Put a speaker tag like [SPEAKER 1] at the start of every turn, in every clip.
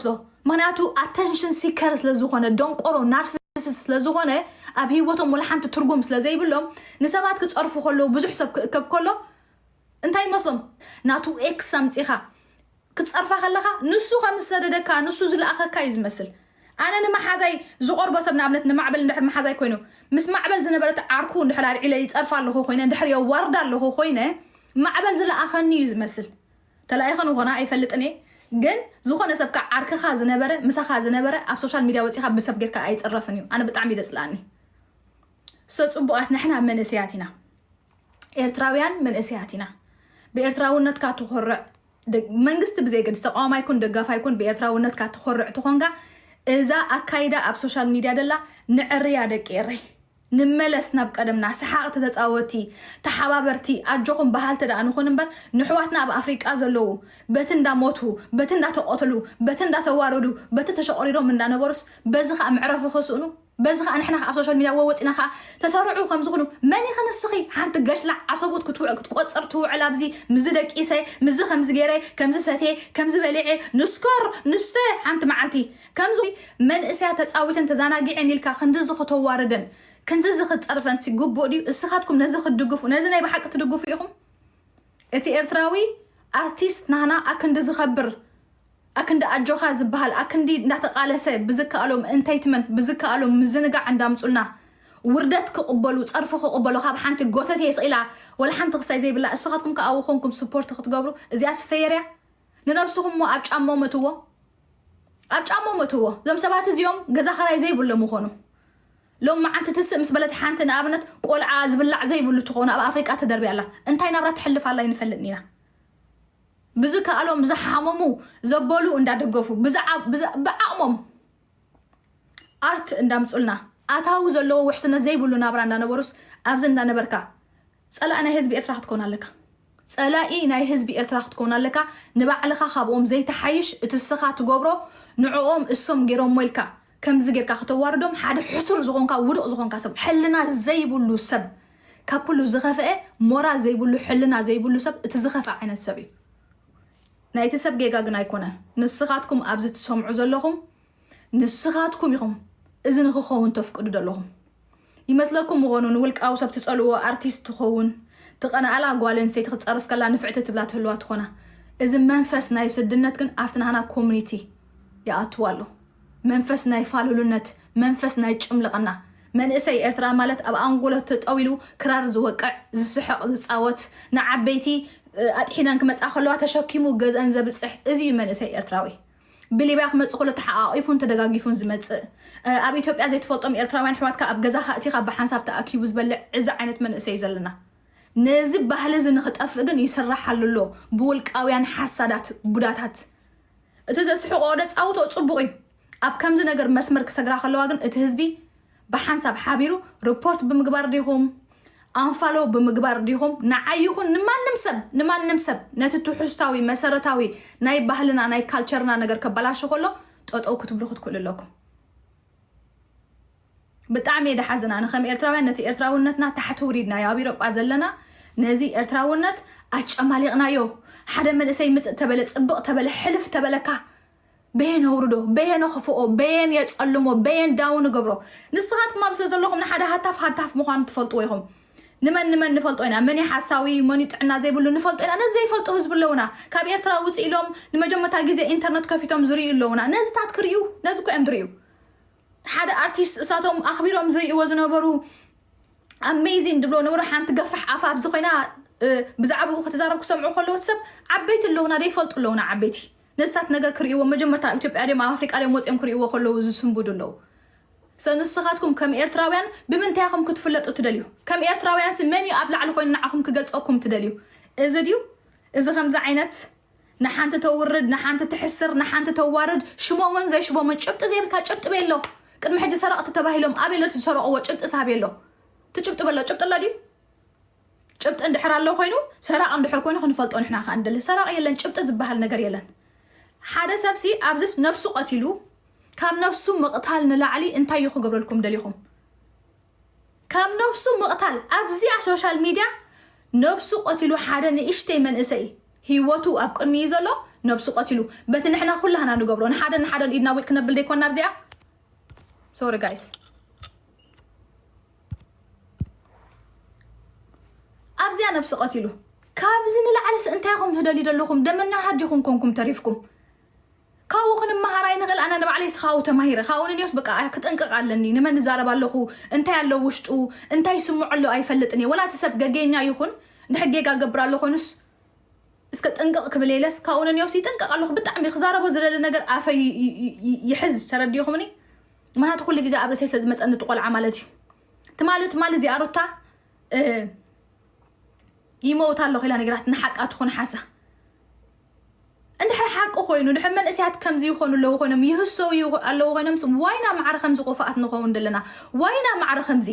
[SPEAKER 1] ዝመርጾ ምክንያቱ ኣተንሽን ሲከር ስለዝኾነ ደንቆሮ ናርሲስ ስለዝኾነ ኣብ ሂወቶም ወላ ሓንቲ ትርጉም ስለዘይብሎም ንሰባት ክጸርፉ ከለዉ ብዙሕ ሰብ ክእከብ ከሎ እንታይ ይመስሎም ናቱ ኤክስ ኣምጺኻ ክትጸርፋ ከለኻ ንሱ ከም ዝሰደደካ ንሱ ዝለኣኸካ እዩ ዝመስል ኣነ ንመሓዛይ ዝቆርቦ ሰብ ንኣብነት ንማዕበል እንድሕር መሓዛይ ኮይኑ ምስ ማዕበል ዝነበረት ዓርኩ እንድሕር ኣልዒለ ይጸርፋ ኣለኹ ኮይነ እንድሕር የዋርዳ ኣለኹ ኮይነ ማዕበል ዝለኣኸኒ እዩ ዝመስል ተላኢኸ ንኾና ኣይፈልጥን እየ ግን ዝኾነ ሰብ ካኣ ዓርክኻ ዝነበረ ምሳኻ ዝነበረ ኣብ ሶሻል ሚድያ ወጺኻ ብሰብ ጌርካ ኣይጽረፍን እዩ ኣነ ብጣዕሚ እዩ ዘጽልኣኒ ሰ ጽቡቃት ንሕና መንእሰያት ኢና ኤርትራውያን መንእሰያት ኢና ብኤርትራውነትካ ትኾርዕ መንግስቲ ብዘይገድስ ተቃዋማይ ኩን ደጋፋይ ኩን ብኤርትራውነትካ ትኾርዕ ትኾንካ እዛ ኣካይዳ ኣብ ሶሻል ሚድያ ደላ ንዕርያ ደቂ ኤረይ ንመለስ ናብ ቀደምና፣ ሰሓቕቲ፣ ተጻወቲ፣ ተሓባበርቲ፣ ኣጆኹም በሃልቲ ደኣ ንኹን እምበር፣ ንሕዋትና ኣብ ኣፍሪቃ ዘለዉ፣ በቲ እንዳ ሞቱ፣ በቲ እንዳ ተቐትሉ፣ በቲ እንዳ ተዋረዱ፣ በቲ ተሸቑሪሮም እንዳ ነበሩስ፣ በዚ ከኣ መዕረፊ ክስእኑ፣ በዚ ከኣ ንሕና ከኣ ኣብ ሶሻል ሚድያ ወወጺና ከኣ ተሰርዑ ከም ዝኹኑ፣ መን ኢኺ ንስኺ ሓንቲ ገሽላዕ ዓሰቡት ክትውዕ ክትቆጽር ትውዕል ኣብዚ፣ ምስዚ ደቂሰ፣ ምስዚ ከምዚ ጌረ፣ ከምዚ ሰትየ፣ ከምዚ በሊዐ፣ ንስከር፣ ንስተ፣ ሓንቲ መዓልቲ፣ ከምዚ መንእሰያት ተጻዊተን ተዛናጊዔን ኢልካ ክንድዚ ክተዋርደን ክንድዚ ክትጸርፈንሲ ግቡእ ድዩ? እስኻትኩም ነዚ ክትድግፉ ነዚ ናይ ብሓቂ ትድግፉ ኢኹም? እቲ ኤርትራዊ ኣርቲስት ናህና ኣክንዲ ዝኸብር ኣክንዲ ኣጆኻ ዝበሃል ኣክንዲ እንዳተቃለሰ ብዝከኣሎ እንተይትመንት ብዝከኣሎ ምዝንጋዕ እንዳምጹልና ውርደት ክቕበሉ ጸርፊ ክቕበሉ ካብ ሓንቲ ጎተቴ ስኢላ ወላ ሓንቲ ክስታይ ዘይብላ እስኻትኩም ከኣ ኣብኡ ኮንኩም ስፖርት ክትገብሩ እዚኣስ ፈየርያ ንነብስኹም ሞ ኣብ ጫማኦም እትዎ ኣብ ጫምኦም እትዎ እዞም ሰባት እዚኦም ገዛ ኸራይ ዘይብሎም ምኾኑ ሎም መዓንቲ ትስእ ምስ በለት ሓንቲ ንኣብነት ቆልዓ ዝብላዕ ዘይብሉ ትኾኑ ኣብ ኣፍሪቃ ተደርብያ ኣላ እንታይ ናብራ ትሕልፍ ኣላ ይንፈልጥ ኢና ብዝ ከኣሎም ዝሓመሙ ዘበሉ እንዳደገፉ ብዓቕሞም ኣርት እንዳምጹልና ኣታዊ ዘለዎ ውሕስነት ዘይብሉ ናብራ እንዳነበሩስ ኣብዚ እንዳነበርካ ጸላኢ ናይ ህዝቢ ኤርትራ ክትኮን ኣለካ። ጸላኢ ናይ ህዝቢ ኤርትራ ክትኮን ኣለካ ንባዕልኻ ካብኦም ዘይትሓይሽ እቲ እስኻ ትገብሮ ንዕኦም እሶም ጌሮሞ ኢልካ ከምዚ ጌርካ ክተዋርዶም ሓደ ሕሱር ዝኾንካ ውዱቕ ዝኾንካ ሰብ ሕልና ዘይብሉ ሰብ ካብ ኩሉ ዝኸፈኤ ሞራል ዘይብሉ ሕልና ዘይብሉ ሰብ እቲ ዝኸፈ ዓይነት ሰብ እዩ ናይቲ ሰብ ጌጋ ግን ኣይኮነን ንስኻትኩም ኣብዚ ትሰምዑ ዘለኹም ንስኻትኩም ኢኹም እዚ ንክኸውን ተፍቅዱ ዘለኹም ይመስለኩም ምኮኑ ንውልቃዊ ሰብ ትጸልእዎ ኣርቲስት ትኮውን ትቀናኣላ ጋል ኣንስተይቲ ክትጸርፍ ከላ ንፍዕቲ ትብላ ትህልዋ ትኮና እዚ መንፈስ ናይ ስድነት ግን ኣብቲ ናህና ኮሙኒቲ ይኣትው ኣሎ መንፈስ ናይ ፋልሉነት መንፈስ ናይ ጭምልቅና መንእሰይ ኤርትራ ማለት ኣብ ኣንጎሎ ተጠዊሉ ክራር ዝወቅዕ ዝስሕቅ ዝጻወት ንዓበይቲ ኣጥሒነን ክመጻ ከለዋ ተሸኪሙ ገዝኣን ዘብጽሕ እዚ እዩ መንእሰይ ኤርትራዊ። ብሊብያ ክመጽእ ከሎ ተሓቛቒፉን ተደጋጊፉን ዝመጽእ ኣብ ኢትዮጵያ ዘይትፈልጦም ኤርትራውያን ኣሕዋትካ ኣብ ገዛኻ እቲኻ ብሓንሳብ ተኣኪቡ ዝበልዕ እዚ ዓይነት መንእሰይ እዩ ዘለና ነዚ ባህሊ እዚ ንኽጠፍእ ግን ይስራሓሉ ኣሎ ብውልቃውያን ሓሳዳት ቡዳታት እቲ ዘስሕቆ ወደ ጻውቶ ጽቡቕ እዩ ኣብ ከምዚ ነገር መስመር ክሰግራ ከለዋ ግን እቲ ህዝቢ ብሓንሳብ ሓቢሩ ርፖርት ብምግባር ዲኹም ኣንፋሎ ብምግባር ዲኹም ንዓይ ይኹን ንማንም ሰብ ንማንም ሰብ ነቲ ትሑስታዊ መሰረታዊ ናይ ባህልና ናይ ካልቸርና ነገር ከበላሹ ከሎ ጠጠው ክትብሉ ክትክእሉ ኣለኩም ብጣዕሚ እየ ድሓዝን ኣነ ከም ኤርትራውያን ነቲ ኤርትራውነትና ታሕቲ ውሪድናዮ ኣብ ኢሮጳ ዘለና ነዚ ኤርትራውነት ኣጨማሊቕናዮ ሓደ መንእሰይ ምፅእ ተበለ ፅብቕ ተበለ ሕልፍ ተበለካ በየን ኣውርዶ በየን ኣኽፍኦ በየን የጸልሞ በየን ዳውን ንገብሮ ንስኻትኩም ኣብ ስለ ዘለኹም ንሓደ ሃታፍ ሃታፍ ምዃኑ ትፈልጥዎ ኢኹም ንመን ንመን ንፈልጦ ኢና መን ሓሳዊ መን ጥዕና ዘይብሉ ንፈልጦ ኢና ነዚ ዘይፈልጡ ህዝቢ ኣለውና ካብ ኤርትራ ውፅእ ኢሎም ንመጀመርታ ግዜ ኢንተርነት ከፊቶም ዝርእዩ ኣለውና ነዚታት ክርእዩ ነዚ እኮ እዮም ዝርእዩ ሓደ ኣርቲስት እሳቶም ኣኽቢሮም ዝርእይዎ ዝነበሩ ኣሜዚን ድብሎ ንብሮ ሓንቲ ገፋሕ ኣፋ ኣብዚ ኮይና ብዛዕባኡ ክትዛረብ ክሰምዑ ከለዎ ሰብ ዓበይቲ ኣለውና ዘይፈልጡ ኣለውና ዓበይቲ ነዚታት ነገር ክርእይዎ መጀመርታ ኣብ ኢትዮጵያ ድዮም ኣብ ኣፍሪቃ ድዮም ወጺኦም ክርእይዎ ከለዉ ዝስንብዱ ኣለዉ። ሰ ንስኻትኩም ከም ኤርትራውያን ብምንታይ ኢኹም ክትፍለጡ ትደልዩ? ከም ኤርትራውያንሲ መን እዩ ኣብ ላዕሊ ኮይኑ ንዓኹም ክገልጸኩም ትደልዩ? እዚ ድዩ? እዚ ከምዚ ዓይነት ንሓንቲ ተውርድ ንሓንቲ ትሕስር ንሓንቲ ተዋርድ ሽሞምን ዘይሽሞምን ጭብጢ ዘይብልካ ጭብጢ ቤሎ ቅድሚ ሕጂ ሰረቕቲ ተባሂሎም ኣበይ ኣሎ እቲ ዝሰረቕዎ ጭብጢ ሳቤሎ እቲ ጭብጢ በሎ ጭብጢ ኣሎ ድዩ? ጭብጢ እንድሕር ኣሎ ኮይኑ ሰራቂ እንድሕር ኮይኑ ክንፈልጦ ንሕና ከኣ ንደሊ ሰራቂ የለን ጭብጢ ዝብሃል ነገር የለን ሓደ ሰብ ሲ ኣብዚስ ነብሱ ቀቲሉ ካብ ነብሱ ምቕታል ንላዕሊ እንታይ እዩ ክገብረልኩም ደሊኹም ካብ ነብሱ ምቕታል ኣብዚኣ ሶሻል ሚድያ ነብሱ ቀቲሉ ሓደ ንእሽተይ መንእሰይ ህይወቱ ኣብ ቅድሚ እዩ ዘሎ ነብሱ ቀቲሉ በቲ ንሕና ኩላህና ንገብሮ ንሓደ ንሓደን ኢድና ዊጥ ክነብል ዘይኮና ኣብዚኣ ሶሪ ጋይስ ኣብዚኣ ነብሲ ቀቲሉ ካብዚ ንላዕለስ እንታይ ኢኹም ትደልዩ ዘለኹም ደመና ሃዲ ኢኹም ኮንኩም ተሪፍኩም ካብኡ ክንመሃር ኣይንኽእል ኣነ ንባዕለይ ስኻኡ ተማሂረ ካብኡ ንኒዮስ በቃ ክጥንቅቕ ኣለኒ ንመን እዛረብ ኣለኹ እንታይ ኣሎ ውሽጡ እንታይ ስምዖ ኣሎ ኣይፈልጥን እየ ወላ እቲ ሰብ ገጌኛ ይኹን ድሕ ጌጋ ገብር ኣሎ ኮይኑስ እስከ ጥንቅቕ ክብል የለስ ካብኡ ንኒዮስ ይጥንቅቕ ኣለኹ ብጣዕሚ ክዛረቦ ዝደሊ ነገር ኣፈይ ይሕዝ ተረዲኹምኒ ምክንያቱ ኩሉ ግዜ ኣብ ርእሰይ ስለ ዝመፀኒ እቲ ቆልዓ ማለት እዩ ትማሊ ትማሊ እዚኣ ሩታ ይመውት ኣለኹ ኢላ ነገራት ንሓቃ ትኹን ሓሳ እንድሕር ሓቂ ኮይኑ ድሕር መንእሰያት ከምዚ ይኾኑ ኣለዉ ኮይኖም ይህሰው ኣለዉ ኮይኖም ዋይና ማዕረ ከምዚ ቆፋኣት ንኸውን ዘለና ዋይና ማዕረ ከምዚ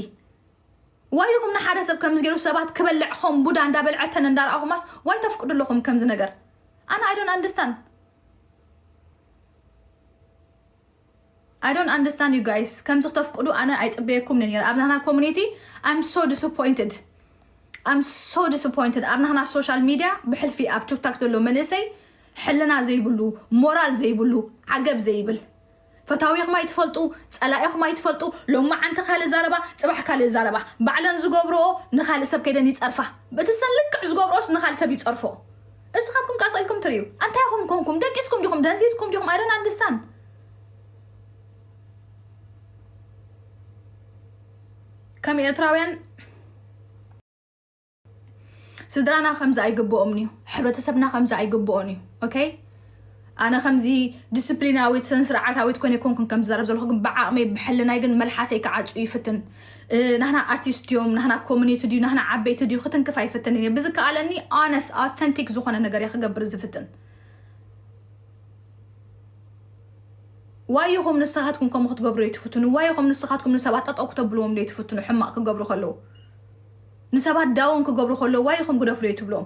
[SPEAKER 1] ዋይኹም ንሓደ ሰብ ከምዚ ገይሩ ሰባት ክበልዕ ኸም ቡዳ እንዳበልዐተን እንዳረኣኹማስ ዋይ ተፍቅዱ ኣለኹም ከምዚ ነገር ኣነ ኣይዶን ኣንደስታን I don't understand you guys ከምዚ ክተፍቅዱ ኣነ ኣይጽበየኩምኒ ኔረ ኣብ ናህና ኮሙኒቲ I'm so disappointed I'm so disappointed ኣብ ናህና ሶሻል ሚድያ ብሕልፊ ኣብ ቱክታክ ዘሎ መንእሰይ ሕልና ዘይብሉ ሞራል ዘይብሉ ዓገብ ዘይብል ፈታዊኹም ኣይትፈልጡ ጸላኢኹም ኣይትፈልጡ ሎማዓንቲ ካልእ ዛረባ ጽባሕ ካልእ ዛረባ ባዕለን ዝገብርኦ ንካልእ ሰብ ከይደን ይጸርፋ ብእቲ ሰን ልክዕ ዝገብርኦስ ንካልእ ሰብ ይጸርፎ እስኻትኩም ቀስ ኢልኩም ትሪኡ ኣንታይ ኢኹም ኮንኩም ደቂስኩም ዲኹም ደንዚዝኩም ዲኹም ኣይ ዶንት ኣንደርስታንድ ከም ኤርትራውያን ስድራና ከምዚ ኣይግብኦምን እዩ ሕብረተሰብና ከምዚ ኣይግብኦን እዩ ኦኬ ኣነ ከምዚ ዲስፕሊናዊት ስነ ስርዓታዊት ኮይነ ኮንኩን ከም ዝዛረብ ዘለኹ ግን ብዓቕመይ ብሕልናይ ግን መልሓሰይ ክዓፁ ይፍትን ናህና ኣርቲስት ድዮም ናህና ኮሚኒቲ ድዩ ናህና ዓበይቲ ድዩ ክትንክፍ ኣይፍትንን እየ ብዝከኣለኒ ኦነስ ኣውተንቲክ ዝኾነ ነገር እየ ክገብር ዝፍትን ዋይ ኢኹም ንስኻትኩም ከምኡ ክትገብሩ የትፍትኑ ዋይ ኢኹም ንስኻትኩም ንሰባት ጠጠው ክተብልዎም ዶ የትፍትኑ ሕማቕ ክገብሩ ከለዉ ንሰባት ዳውን ክገብሩ ከለዉ ዋይ ኢኹም ግደፍሉ የትብሎም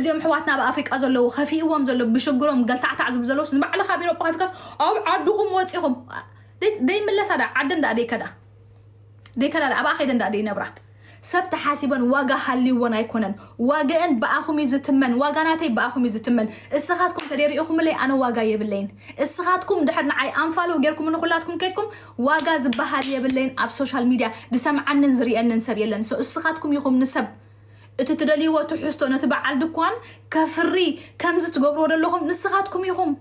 [SPEAKER 1] እዚኦም ሕዋትና ኣብ ኣፍሪቃ ዘለዉ ከፊእዎም ዘሎ ብሽግሮም ገልታዕታዕ ዝብ ዘለውስ ንባዕልካ ቢሮ ጳፊካስ ኣብ ዓድኹም ወፂኹም ዘይምለሳ ዳ ዓዲ እንዳ ደይከዳ ደይከላለ ኣብኣ ከይደን ደኣ ደይነብራ ሰብ ተሓሲበን ዋጋ ሃልይዎን ኣይኮነን ዋግአን ብኣኹም እዩ ዝትመን ዋጋ ናተይ ብኣኹም እዩ ዝትመን እስኻትኩም ተደይ ሪኢኹምለይ ኣነ ዋጋ የብለይን እስኻትኩም ድሕር ንዓይ ኣንፋሎ ጌርኩም ንኹላትኩም ከድኩም ዋጋ ዝበሃል የብለይን ኣብ ሶሻል ሚድያ ዝሰምዓንን ዝርየንን ሰብ የለን ሰው እስኻትኩም ይኹም ንሰብ እቲ ትደልይዎ ትሕዝቶ ነቲ በዓል ድኳን ከፍሪ ከምዚ ትገብርዎ ዘለኹም ንስኻትኩም ኢኹም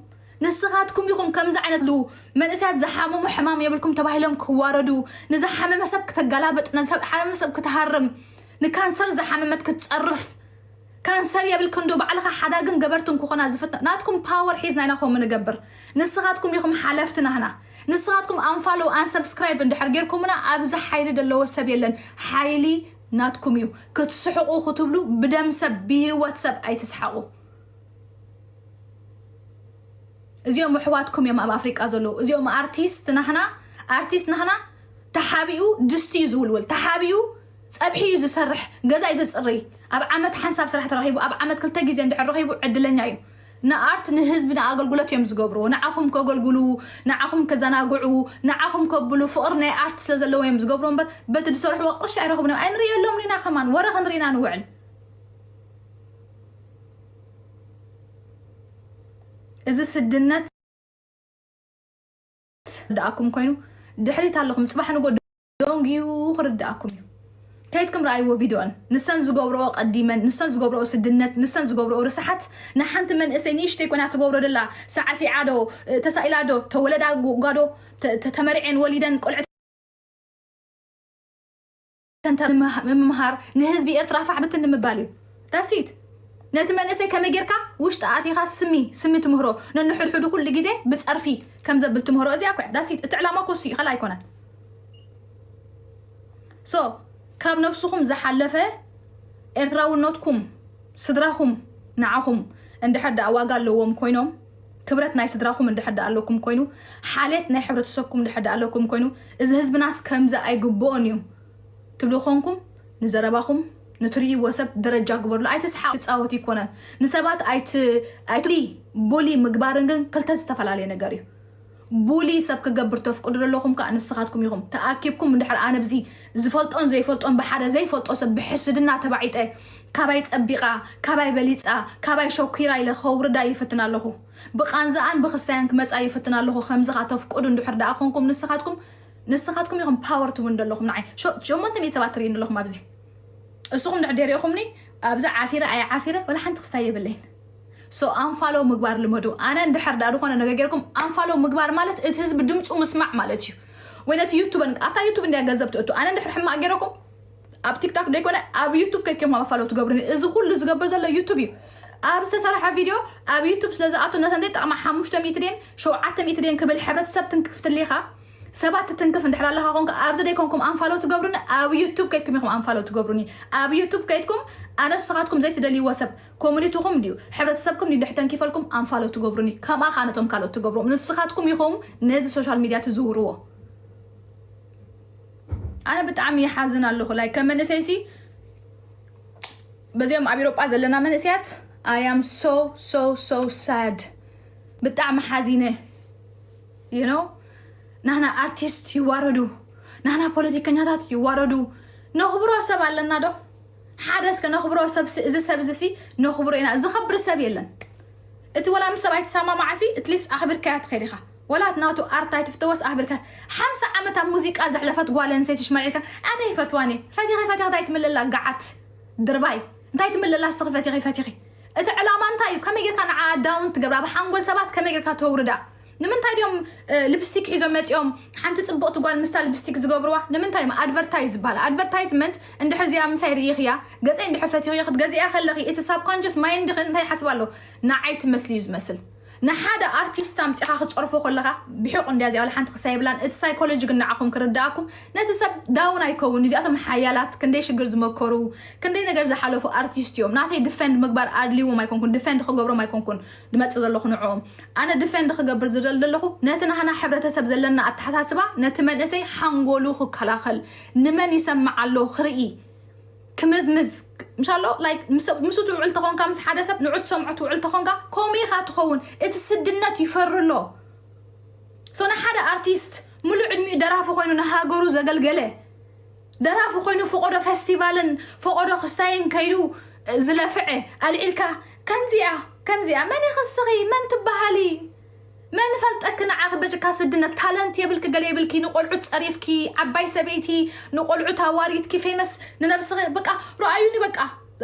[SPEAKER 1] ንስኻትኩም ኢኹም ከምዚ ዓይነት ሉ መንእሰያት ዝሓመሙ ሕማም የብልኩም ተባሂሎም ክዋረዱ ንዝሓመመ ሰብ ክተጋላበጥ ንዝሓመመ ሰብ ክትሃርም ንካንሰር ዝሓመመት ክትጸርፍ ካንሰር የብልክን ዶ ባዕልኻ ሓዳግን ገበርትን ክኾና ዝፍት ናትኩም ፓወር ሒዝና ኢና ከምኡ ንገብር ንስኻትኩም ኢኹም ሓለፍቲ ናህና ንስኻትኩም ኣንፋሎ ኣንሰብስክራይብ እንድሕር ጌርኩምና ኣብዚ ሓይሊ ዘለዎ ሰብ የለን ሓይሊ ናትኩም እዩ ክትስሕቑ ክትብሉ ብደም ሰብ ብሂወት ሰብ ኣይትስሓቑ እዚኦም ኣሕዋትኩም እዮም ኣብ ኣፍሪቃ ዘለዉ እዚኦም ኣርቲስት ናህና ኣርቲስት ናህና ተሓቢኡ ድስቲ እዩ ዝውልውል ተሓቢኡ ፀብሒ እዩ ዝሰርሕ ገዛ እዩ ዘፅርይ ኣብ ዓመት ሓንሳብ ስራሕ ተረኪቡ ኣብ ዓመት ክልተ ግዜ እንድሕር ረኪቡ ዕድለኛ እዩ ንኣርት ንህዝቢ ንኣገልግሎት እዮም ዝገብርዎ ንዓኹም ከገልግሉ ንዓኹም ከዘናግዑ ንዓኹም ከብሉ ፍቕሪ ናይ ኣርት ስለ ዘለዎ እዮም ዝገብርዎ እምበር በቲ ዝሰርሕዎ ቅርሺ ኣይረኽቡን እዮም ኣይንርእየሎም ኢና ከማን ወረ ክንርኢና ንውዕል እዚ ስድነት ርድኣኩም ኮይኑ ድሕሪት ኣለኹም ፅባሕ ንጎ ደንግዩ ክርድኣኩም እዩ ከይትኩም ረኣይዎ ቪድዮን ንሰን ዝገብረኦ ቀዲመን ንሰን ዝገብረኦ ስድነት ንሰን ዝገብረኦ ርስሓት ንሓንቲ መንእሰይ ንእሽተይ ኮይና ትገብሮ ደላ ሳዕሲዓ ዶ ተሳኢላ ዶ ተወለዳ ጓዶ ተመርዔን ወሊደን ቆልዐ ተንተ ምምሃር ንህዝቢ ኤርትራ ፋሕ ብትን ንምባል እዩ ዳሲት ነቲ መንእሰይ ከመይ ጌርካ ውሽጢ ኣቲኻ ስሚ ስሚ ትምህሮ ነንሕድሕዱ ኩሉ ግዜ ብፀርፊ ከም ዘብል ትምህሮ እዚኣ ኮያ ዳሲት እቲ ዕላማ ኮሱ እዩ ካልእ ኣይኮነን ሶ ካብ ነብስኹም ዝሓለፈ ኤርትራውነትኩም ስድራኹም ንዓኹም እንድሕር ደኣ ዋጋ ኣለዎም ኮይኖም ክብረት ናይ ስድራኹም እንድሕር ድኣ ኣለኩም ኮይኑ፣ ሓልየት ናይ ሕብረተሰብኩም እንድሕር ድኣ ኣለኩም ኮይኑ፣ እዚ ህዝብናስ ከምዚ ኣይግብኦን እዩ ትብሉ ኮንኩም፣ ንዘረባኹም ንትርእይዎ ሰብ ደረጃ ግበርሉ። ኣይትስሓቑ፣ ክጻወት እይኮነን። ንሰባት ኣይት ኣይት ቡሊ ቡሊ ምግባርን ግን ክልተ ዝተፈላለየ ነገር እዩ። ቡሊ ሰብ ክገብር ተፍቅዱ ዘለኹም ከኣ ንስኻትኩም ኢኹም። ተኣኪብኩም እንድሕር ኣነ ብዚ ዝፈልጦን ዘይፈልጦን ብሓደ ዘይፈልጦ ሰብ ብሕስድና ተባዒጠ ካባይ ጸቢቓ ካባይ በሊጻ ካባይ ሸኲራ ኢለ ከውርዳ ይፍትን ኣለኹ። ብቃንዛኣን ብክስታያን ክመጻ ይፍትን ኣለኹ ከምዝኻ ተፍቅዱ እንድሕር ደኣ ኮንኩም ንስኻትኩም ንስኻትኩም ኢኹም ፓወር ትቡኒ ደለኹም ንዓይ ሸሞንተ ሚእቲ ሰባት ትሪእኒ ኣለኹም ኣብዚ እስኹም ድሕር ደይ ሪእኹምኒ ኣብዚ ዓፊረ ኣይዓፊረ ወላ ሓንቲ ክስታይ የብለይን። So ኣንፋሎው ምግባር ልመዱ ኣነ እንድሕር ድኣ ድኮነ ነገር ጌርኩም ኣንፋሎው ምግባር ማለት እቲ ህዝቢ ድምጹ ምስማዕ ማለት እዩ ወይ ነቲ ዩቱብ ኣብታ ዩቱብ እንድያ ገንዘብ ትእቱ ኣነ እንድሕር ሕማቅ ጌረኩም ኣብ ቲክታክ ደይኮነ ኣብ ዩቱብ ከይከም ኣንፋሎው ትገብሩኒ እዚ ኩሉ ዝገብር ዘሎ ዩቱብ እዩ ኣብ ዝተሰርሐ ቪድዮ ኣብ ዩቱብ ስለ ዝኣቱ ነተን ዘይጠቅማ ሓሙሽተ ሚእቲ ድን ሸውዓተ ሚእቲ ድን ክብል ሕብረተሰብ ትንክፍ ትሊኻ ሰባት ትትንክፍ እንድሕር ኣለኻ ኮንካ ኣብዚ ደይኮንኩም ኣንፋሎው ትገብሩኒ ኣብ ዩቱብ ከይድኩም ኢኹም ኣንፋሎው ትገብሩኒ ኣብ ዩቱብ ከይድኩም ኣነ ንስኻትኩም ዘይትደልይዎ ሰብ ኮሙኒትኹም ድዩ ሕብረተሰብኩም ድዩ ድሕሪ ተንኪፈልኩም ኣንፋሎ ትገብሩኒ ከምኣ ከኣ ነቶም ካልኦት ትገብርዎም ንስኻትኩም ኢኹም ነዚ ሶሻል ሚድያ ትዝውርዎ ኣነ ብጣዕሚ ይሓዝን ኣለኹ ላይ ከም መንእሰይሲ በዚኦም ኣብ ኤሮጳ ዘለና መንእሰያት ኣያም ሶ ሶ ሶ ሳድ ብጣዕሚ ሓዚነ ዩ ኖ ናህና ኣርቲስት ይዋረዱ ናህና ፖለቲከኛታት ይዋረዱ ነኽብሮ ሰብ ኣለና ዶ ሓደ እስከ ነኽብሮ ሰብሲ እዚ ሰብ እዚ ሲ ነኽብሮ ኢና ዝኸብር ሰብ የለን እቲ ወላ ምስ ሰብኣይ ትሰማማዕ ሲ እትሊስ ኣኽብርካያ ትኸድ ኢኻ ወላ እቲ ናቱ ኣርት ኣይትፍተወስ ኣኽብርካ ሓምሳ ዓመት ኣብ ሙዚቃ ዘሕለፈት ጓል ኣንሰይቲ ሽማዕ ኢልካ ኣነ ይፈትዋን እየ ፈቲኺ ፈቲኺ እንታይ ትምልላ ገዓት ድርባይ እንታይ ትምልላ እስኺ ፈቲኺ ፈቲኺ እቲ ዕላማ እንታይ እዩ ከመይ ጌርካ ንዓ ዳውን ትገብራ ኣብ ሓንጎል ሰባት ከመይ ጌርካ ተውርዳ ንምንታይ ድዮም ልፕስቲክ ሒዞም መፂኦም ሓንቲ ፅብቕቲ ጓል ምስታ ልፕስቲክ ዝገብርዋ ንምንታይ እዮም ኣድቨርታይዝ ዝበሃል ኣድቨርታይዝመንት እንድሕር እዚኣ ምሳይ ርኢኽያ ገፀይ እንድሕር ፈቲኽዮ ክትገዝእያ ከለኺ እቲ ሳብኮንጀስ ማይን ድኽን እንታይ ይሓስብ ኣሎ ንዓይ ትመስል እዩ ዝመስል ንሓደ ኣርቲስት ኣምፂኻ ክትፀርፎ ከለኻ ብሕቑ እንድያ እዚኣ ወላ ሓንቲ ክሳይ የብላን እቲ ሳይኮሎጂ ግን ንዓኹም ክርዳእኩም ነቲ ሰብ ዳውን ኣይከውን እዚኣቶም ሓያላት ክንደይ ሽግር ዝመከሩ ክንደይ ነገር ዝሓለፉ ኣርቲስት እዮም ናተይ ድፈንድ ምግባር ኣድልዎም ኣይኮንኩን ድፈንድ ክገብሮም ኣይኮንኩን ድመጽእ ዘለኹ ንዕኦም ኣነ ድፌንድ ክገብር ዝደሊ ዘለኹ ነቲ ናህና ሕብረተሰብ ዘለና ኣተሓሳስባ ነቲ መንእሰይ ሓንጎሉ ክከላኸል ንመን ይሰምዕ ኣሎ ክርኢ ክምዝምዝ ምሻሎ ላይክ ምስ ትውዕል ተኾንካ ምስ ሓደ ሰብ ንዑ ትሰምዖ ትውዕል ተኾንካ ከምኡ ኢኻ ትኸውን እቲ ስድነት ይፈሪ ኣሎ ሶ ንሓደ ኣርቲስት ሙሉእ ዕድሚኡ ደራፊ ኮይኑ ንሃገሩ ዘገልገለ ደራፊ ኮይኑ ፈቆዶ ፈስቲቫልን ፈቆዶ ክስታይን ከይዱ ዝለፍዐ ኣልዒልካ ከምዚኣ ከምዚኣ መን ኢኺ እስኺ መን ትበሃሊ መን ፈልጠኪ ንዓኺ በጭካ ስድነት ታለንት የብልኪ ገለ የብልኪ ንቆልዑት ጸሪፍኪ ዓባይ ሰበይቲ ንቆልዑት ኣዋሪድኪ ፌመስ ንነብስኺ በቃ ርኣዩኒ በቃ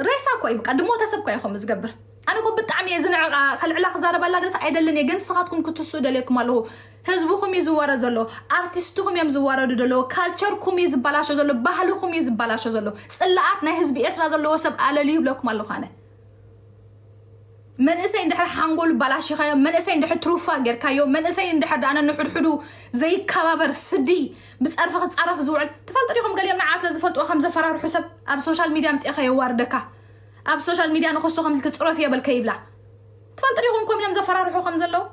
[SPEAKER 1] ሬሳ እኮ እዩ በቃ ድሞተ ሰብ እኮ እዩ ከምኡ ዝገብር ኣነ እኮ ብጣዕሚ እየ ዝንዕቃ ከልዕላ ክዛረበላ ግንስ ኣይደልን እየ ግን ንስኻትኩም ክትስኡ ደልየኩም ኣለኹ ህዝብኹም እዩ ዝዋረ ዘሎ ኣርቲስትኹም እዮም ዝዋረዱ ዘለዎ ካልቸርኩም እዩ ዝበላሾ ዘሎ ባህልኹም እዩ ዝበላሾ ዘሎ ፅላኣት ናይ ህዝቢ ኤርትራ ዘለዎ ሰብ ኣለልዩ ይብለኩም ኣለኹ ኣነ መንእሰይ እንድሕር ሓንጎሉ ባላሽኻዮ መንእሰይ እንድሕር ትሩፋ ጌርካዮ መንእሰይ እንድሕር ዳነ ንሕድሕዱ ዘይከባበር ስዲ ብፀርፊ ክፃረፍ ዝውዕል ትፈልጡ ዲኹም ገሊኦም ንዓ ስለ ዝፈልጥዎ ከም ዘፈራርሑ ሰብ ኣብ ሶሻል ሚድያ ምፅኻ የዋርደካ ኣብ ሶሻል ሚድያ ንኹሱ ከም ኢልኪ ጽረፊዮ በል ከይብላ ትፈልጢ ዲኹም ከምኡ ኢሎም ዘፈራርሑ ከም ዘለዉ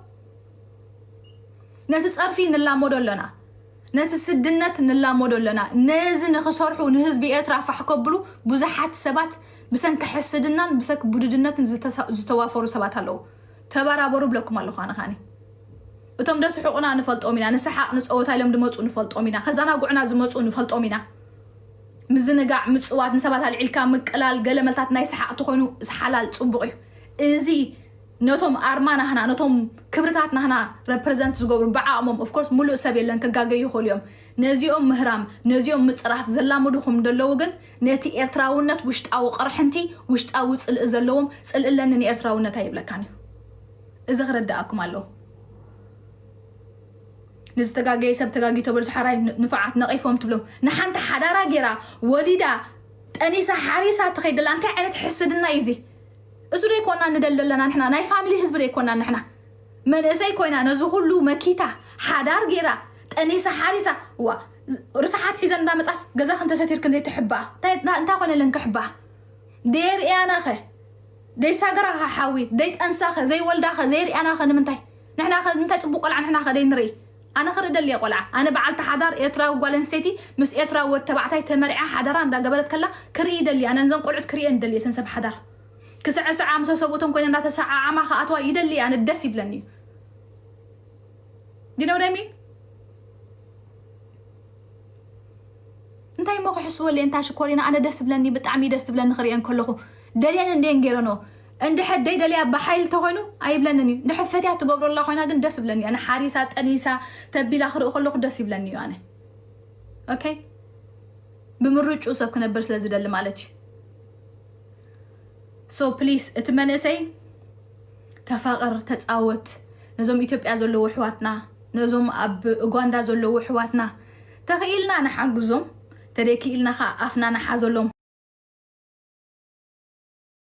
[SPEAKER 1] ነቲ ጸርፊ ንላመዶ ኣለና ነቲ ስድነት ንላመዶ ኣለና ነዚ ንኽሰርሑ ንህዝቢ ኤርትራ ፋሕ ከብሉ ብዙሓት ሰባት ብሰንኪ ሕስድናን ብሰንኪ ቡድድነትን ዝተሳ- ዝተዋፈሩ ሰባት ኣለዉ ተበራበሩ ብለኩም ኣለኹ ኣነ ኻኒ እቶም ደስሕቑና ንፈልጦም ኢና ንሰሓቕ ንፀወታ ኢሎም ድመፁ ንፈልጦም ኢና ከዘናጉዕና ዝመፁ ንፈልጦም ኢና ምዝንጋዕ ምጽዋት ንሰባት ኣልዒልካ ምቅላል ገለ መልታት ናይ ሰሓቅ ተኮይኑ ሓላል ጽቡቅ እዩ እዚ ነቶም ኣርማ ናህና ነቶም ክብርታት ናህና ረፕረዘንት ዝገብሩ ብዓቅሞም ኦፍ ኮርስ ሙሉእ ሰብ የለን ክጋገዩ ይኽእሉ እዮም ነዚኦም ምህራም ነዚኦም ምጽራፍ ዘላምዱኹም ደለዉ ግን ነቲ ኤርትራውነት ውሽጣዊ ቅርሕንቲ ውሽጣዊ ጽልኢ ዘለዎም ጽልኢ ኣለኒ ንኤርትራውነት ኣይብለካን እዩ እዚ ክርዳኣኩም ኣለዎ ንዝተጋገየ ሰብ ተጋጊቶ በልሱ ሓራይ ንፉዓት ነቂፎም ትብሎም ንሓንቲ ሓዳራ ጌራ ወሊዳ ጠኒሳ ሓሪሳ ትኸይድ ዘላ እንታይ ዓይነት ሕስድና እዩ እዚ እሱ ደይ ኮና ንደል ዘለና ንሕና ናይ ፋሚሊ ህዝቢ ደይ ኮና ንሕና መንእሰይ ኮይና ነዚ ኩሉ መኪታ ሓዳር ጌራ ጠኒሳ ሓሪሳ ዋ ርስሓት ሒዘን እንዳመጻስ ገዛ ክንተሰቲርክን ዘይትሕባኣ እንታይ ኮይነለን ክሕባኣ ደየርእያናኸ ደይሳገራኸ ሓዊ ደይጠንሳኸ ዘይወልዳኸ ዘይርእያናኸ ንምንታይ ንሕና ከ እንታይ ጽቡቅ ቆልዓ ንሕና ከ ደይንርኢ ኣነ ክርኢ ደልየ ቆልዓ ኣነ በዓልቲ ሓዳር ኤርትራዊ ጓል ኣንስተይቲ ምስ ኤርትራዊ ወድ ተባዕታይ ተመርዕያ ሓዳራ እንዳ ገበረት ከላ ክርኢ ይደሊ ኣነ ንዘን ቆልዑት ክርእየን ይደሊ እየ ሰንሰብ ሓዳር ክስዕስዓ ምሰ ሰብኡተን ኮይነ እንዳ ተሰዓዓማ ክኣትዋ ይደሊ እየ ኣነ ደስ ይብለኒ እዩ ዩ ኖ ዋት ኣይ ሚን እንታይ እሞ ክሕስወለይ እንታ ሽኮሪና ኣነ ደስ ብለኒ ብጣዕሚ ደስ ትብለኒ ክሪኤን ከለኹ ደልየን እንድየን ገይረንኦ እንድሕር ደይደልያ ብሓይሊ ተኮይኑ ኣይብለንን እዩ እንድሕር ፈትያ ትገብሮ ኣላ ኮይና ግን ደስ ይብለኒ ኣነ ሓሪሳ ጠኒሳ ተቢላ ክርኢ ከለኩ ደስ ይብለኒ እዩ ኣነ ኦኬ ብምርጩ ሰብ ክነብር ስለ ዝደሊ ማለት እዩ ሶ ፕሊስ እቲ መንእሰይ ተፋቕር ተፃወት ነዞም ኢትዮጵያ ዘለዎ ኣሕዋትና ነዞም ኣብ ኡጋንዳ ዘለዎ ኣሕዋትና ተኽኢልና ንሓግዞም ተደይክኢልና ከዓ ኣፍና ንሓዘሎም